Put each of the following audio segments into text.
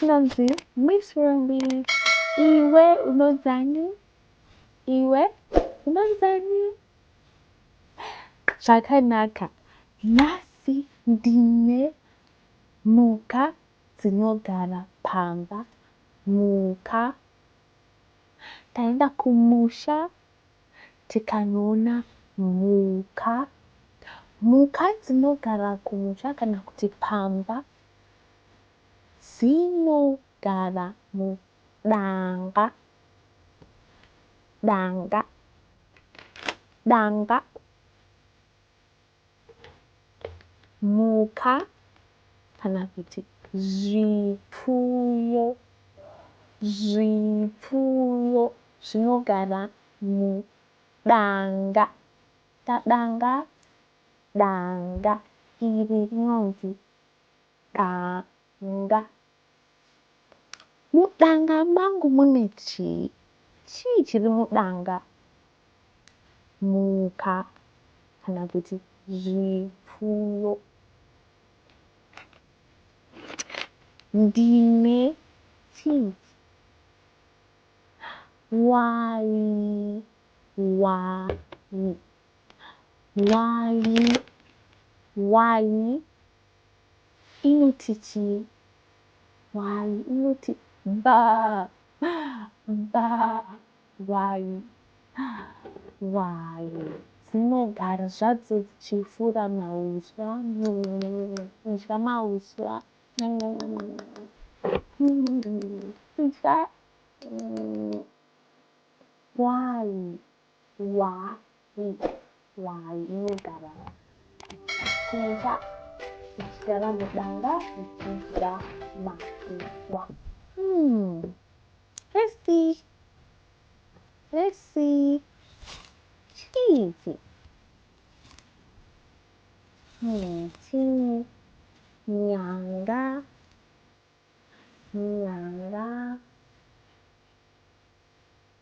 ndinonzi miss rumbi iwe unodzani iwe unodzani zvakanaka nhasi ndine mhuka dzinogara pamba mhuka taenda kumusha tikanoona mhuka mhuka dzinogara kumusha kana kuti pamba dzinogara mudanga danga danga. Mhuka kana kuti zvipfuyo. Zvipfuyo zvinogara mudanga. Danga danga iri rinonzi danga. Mudanga mangu mune chii? Chii chiri mudanga? Mhuka kana kuti zvipfuyo. Ndine chii? Wayi, wayi, wayi, wayi. inoti chii? Hwai inoti bba bba hwai hwai dzinogara zvadzo dzichifura mauswa kudya mauswa kudya hwai Why? Why? Inogara. Chinja uchigara mudanga uchidya makuswa. Hmm. Hesi. Hesi. Chiichi. Hmm. Chii. Nyanga. Nyanga.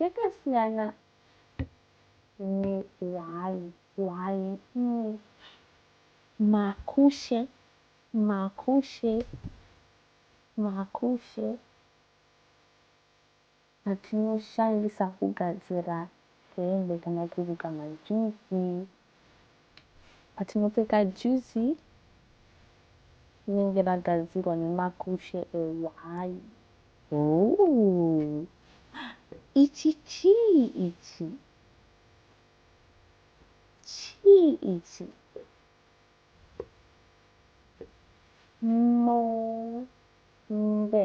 Yakasiyana ne hwai hwai umm. Makushe makushe makushe atinoshandisa kugadzira hembe kana kuruka majuzi Patinopfeka juzi rinenge ragadzirwa nemakushe ehwai. Ooh ichi chii ichi? Chii ichi? Mombe.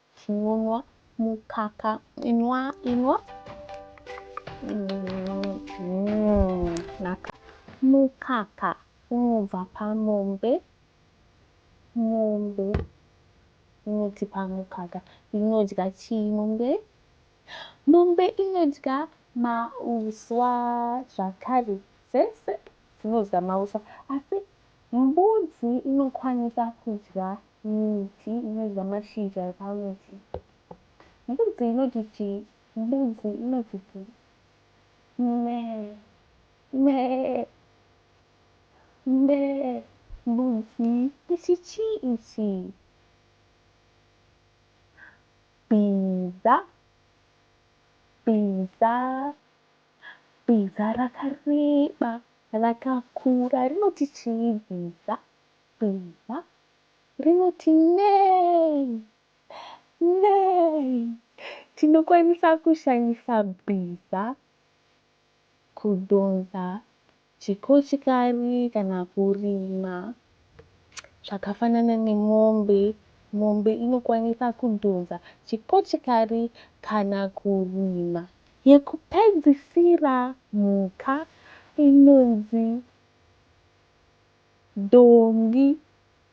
Chinonwa mukaka inwa inwa naka mukaka unobva pamombe mombe inotipa mukaka inodya chii mombe mombe inodya mauswa zvakare dzese dzinodya mauswa asi Mbudzi inokwanisa kudya miti inodya mashizha epamiti. Mbudzi inoti chii? Mbudzi inoti bvu. Mee. Mee. Mee. Mbudzi. Ichi chii ichi? Bhiza. Bhiza. Bhiza rakareba, rakakura rinoti chii? Bhiza, bhiza rinoti nei? Nei? Tinokwanisa kushandisa bhiza kudhonza Chikochikari kana kurima zvakafanana nemombe. Mombe inokwanisa kudhonza chikochikari kana kurima. Yekupedzisira mhuka inonzi dhongi.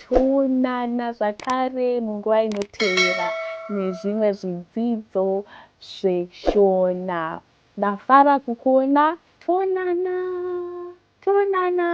Toonana zvakare munguva inotevera nezvimwe zvidzidzo zveShona. Ndafara kukuona. Toonana. Toonana.